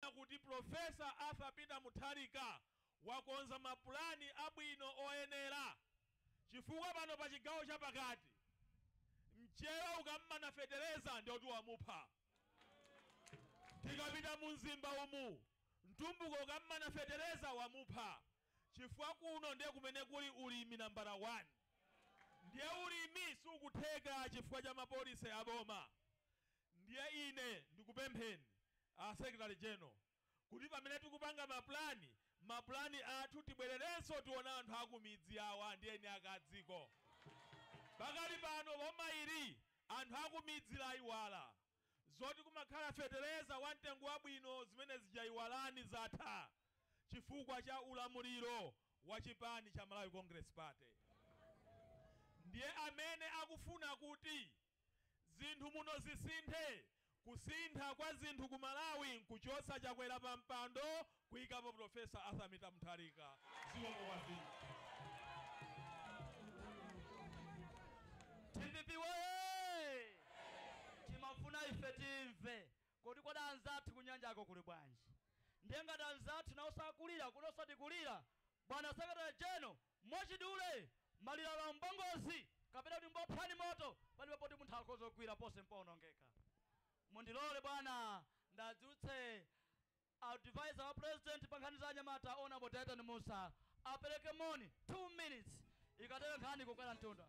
ananena kuti Pulofesa Arthur Peter Mutharika wakonza mapulani abwino oyenera chifukwa pano pa chigawo cha pakati mchewa ukam'mana fetereza ndiye kuti wamupha, tikapita mu Mzimba umu mtumbuka ukam'mana fetereza wamupha chifukwa kuno ndiye kumene kuli ulimi nambala wani ndiye ulimi siukutheka chifukwa cha mapolicy a boma. Ndiye ine ndikupempheni, a Secretary General, kuti pamene tikupanga ma plan, ma plan athu tibwererenso tione anthu akumidzi awa ndi eni ake a dziko. Pakali pano boma ili anthu akumidzi laiwala. Zoti kumakhala fetereza wa mtengo wabwino zimene zija iwalani zatha chifukwa cha ulamuliro wa chipani cha Malawi Congress Party. Ndiye amene akufuna kuti. Zinthu muno zisinthe. Kusintha kwa zinthu ku Malawi nkuchotsa Chakwera pa mpando kuikapo Prof. Arthur Peter Mutharika. Zikomo kwambiri. Dpp woyee! Timafuna ife timve kodi anzathu ku nyanjako kuli bwanji? Ndiye ngati anzathu nawonso akulira, kunonso tikulira, Bwana Secretary General, Mwachidule, maliro alowa m'bangozi kapena kuti mbopsa ndi moto palibe poti munthu akhoza kugwira ponse mpoonongeka. Mundilole bwana ndiadzutse Advisor wa President pa nkhani za anyamata Hon. Dyton Mussa apereke moni, 2 minutes, zikatheka nkhani ikwera mtunda.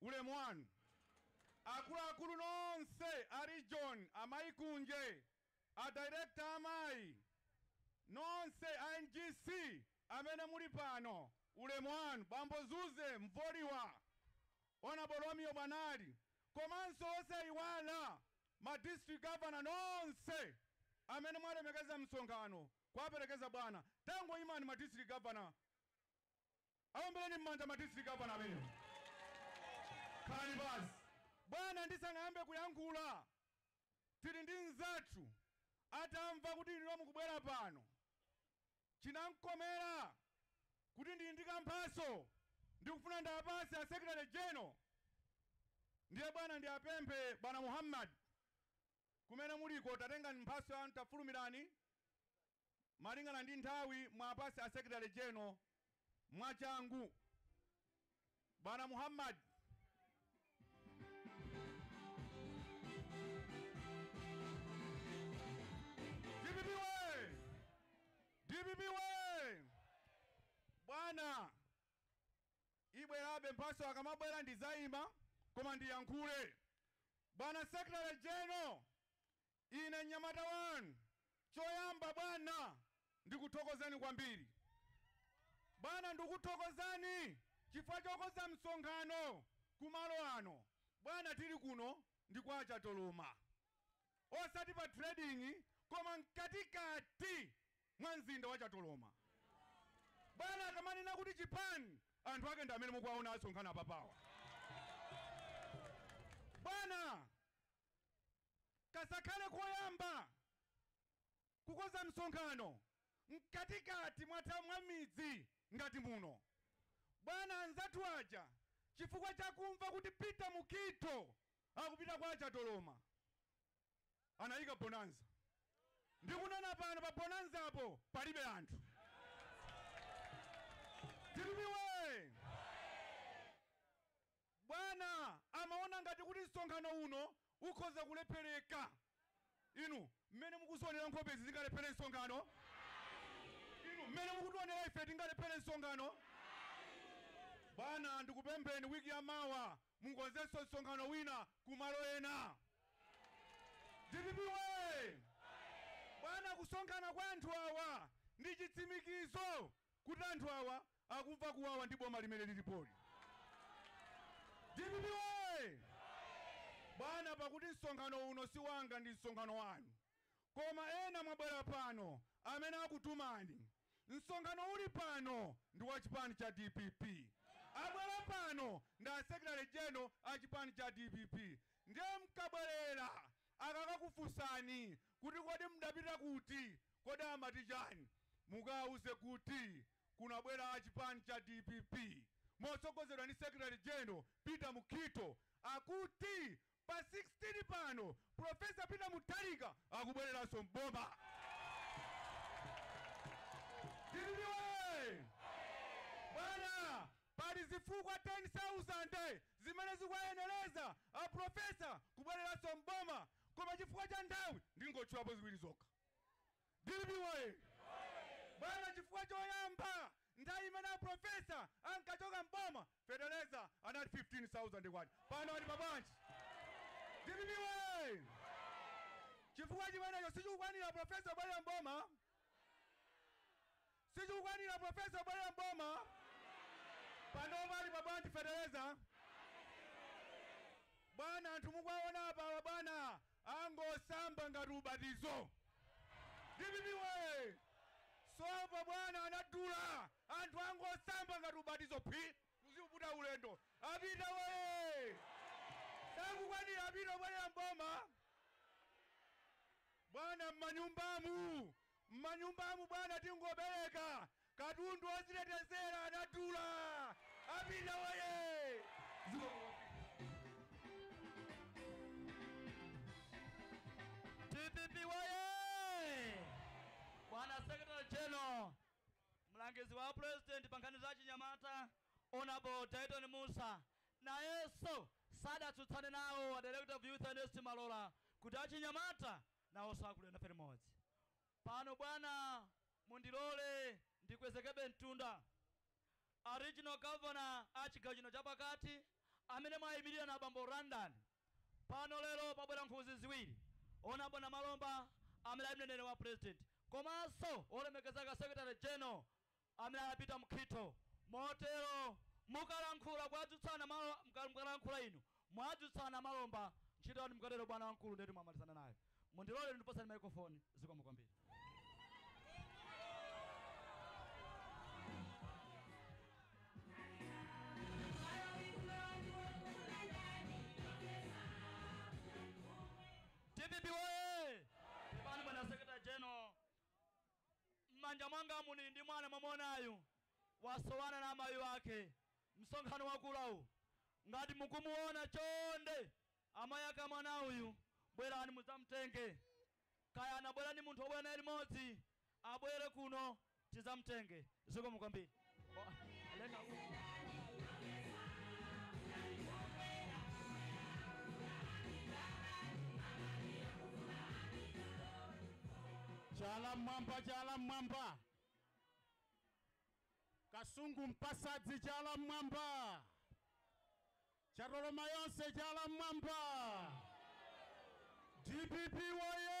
Ulemu wanu akuluakulu nonse a region, amayi Kunje, a director a amayi, nonse a NGC amene muli pano ulemu wanu, bambo Zuze Mvoliwa, Hon Romeo Bwanali komanso osaiwala ma district governor nonse amene mwalemekeza msonkhano kuwaperekeza bwana. Tangoimani ma district governor. Awombeleni mmanja ma district governor amenewo. Khalani pansi. Bwana ndisanayambe kuyankhula tili ndi mzathu atamva kuti inuyo mukubwera pano chinamkomera kuti ndili ndi kamphatso ndikufuna ndiapatse a secretary general ndiye bwana ndiapemphe bwana Muhammad kumene muliko tatengani mphatso yanu tafulumirani. malingana ndi nthawi muwapatse a secretary general mwachangu. Bwana Muhammad. Dpp woye! Dpp woye! Bwana ibwerabe mphatso akamabwera ndidzayima koma ndiyankhule. Bwana secretary general Ine mnyamata wanu, choyamba, bwana, ndikuthokozeni kwambiri. Bwana, ndikukuthokozani chifukwa chokonza msonkhano ku malo ano. Bwana, tiri kuno ndi kwa Chatoloma, osati pa trading, koma mkatikati mwa mzinda wa Chatoloma. Bwana, akamanena kuti Japan, anthu ake ndi amene mukuwaona asonkhana apapawa. Bwana, Kazakhale koyamba kukonza msonkhano mkatikati mwa, mwa midzi ngati muno. Bwana anzathu aja chifukwa cha kumva kuti Peter Mukhitho akupita kwa Chatoloma anayika bonanza. Ndikunena pano pa bonanzapo palibe anthu. Dpp woye! Bwana amaona ngati kuti msonkhano uno ukhoza kulephereka. Inu, mmene mukuzionera nkhope izi zingalephere msonkhano? Ayi. Inu, mmene mukutionera ife tingalephere msonkhano? Ayi. Bwana, ndikupempheni wiki ya mawa mukonzenso msonkhano wina ku malo ena. Dpp woye! Bwana, kusonkhana kwa anthu awa ndi chitsimikizo kuti anthu awa akumva kuwawa ndi boma limene lilipoli. Dpp woye! Bwana pakuti msonkhano uno si wanga ndi msonkhano wanu koma ena mwabwera pano amene akutumani. Msonkhano uli pano ndi wa chipani cha dpp. Abwera pano ndi a Secretary General a chipani cha dpp ndiye mukabwerera akakakufunsani kuti kodi mdapita kuti, kodi amati chani? Mukawauze kuti. kunabwera a chipani cha dpp motsogozedwa ndi Secretary General Peter Mukhitho akuti pa 16 pano Professor Peter Mutharika akubwereranso m'boma. Dpp woye! Bwana, pali zifukwa 10,000 zimene zikuwayenereza a Professor kubwereranso m'boma koma chifukwa cha nthawi ndingotchulapo ziwiri zokha. Dpp woye! Bwana chifukwa choyamba nthawi imene a professor ankachoka m'boma fetereza anali K15,000 pano ali pa bwanji? Dpp woye! Chifukwa chimenecho sichikukwanira kuti a professor kubwelera m'boma. Sizikukwanira professor kubwelera m'boma panopa ali pa bwanji feteleza bwana anthu mukuwaona apawa bwana angosamba ngati ubatizo dpp woye sopo bwana anadula anthu angosamba ngati ubatizo phwi kuziputa ulendo apita woye sakukwanira apita obwelera m'boma bwana m'manyumbamu Mmanyumbamu bwana tingopereka katundu ozitetezera adadula apita woyee zikomo kwambiri. Dpp woyee! Bwana Secretary General, mlangizi wa President pa nkhani za achinyamata Hon. Dyton Mussa nayenso sadatsutsane nawo a Director of Youth Ernest Malora kuti achinyamata nawonso akulira nafe limodzi pano. Bwana, mundilole ndikwezekebe mtunda. A Regional Governor a chigawo chino chapakati amene mwayimilira na Bambo Randall pano lero, pabwera nkhuzi ziwiri, 1 a Bwana Malomba amene ali mneneri wa President komanso wolemekezeka Secretary General amene anapita mkhitho. Motero mukalankhula kuadzutsana malo mka mkalankhula inu mwadzutsana malo mba ntchito yanu mukatero bwana wamkulu ndiyetu mwamalizana naye. Mundilole ine ndikupatsani microphone. Zikomo kwambiri. Dpp woyee! Pepani bwana Secretary General. Mmanja mwangamu ndili ndi mwana mwamuonayu wasowana na amayi ake msonkhano wakulawu ngati mukumuona chonde amayi ake amwana uyu bwerani mudzamtenge kaya anabwera ndi munthu wabwera naye limodzi abwere kuno tizamtenge. zikomo kwambiri Oh, lenga uku. chala mmwamba chala mmwamba kasungu mpasadzi chala mmwamba chatoloma yonse chala mmwamba dpp woye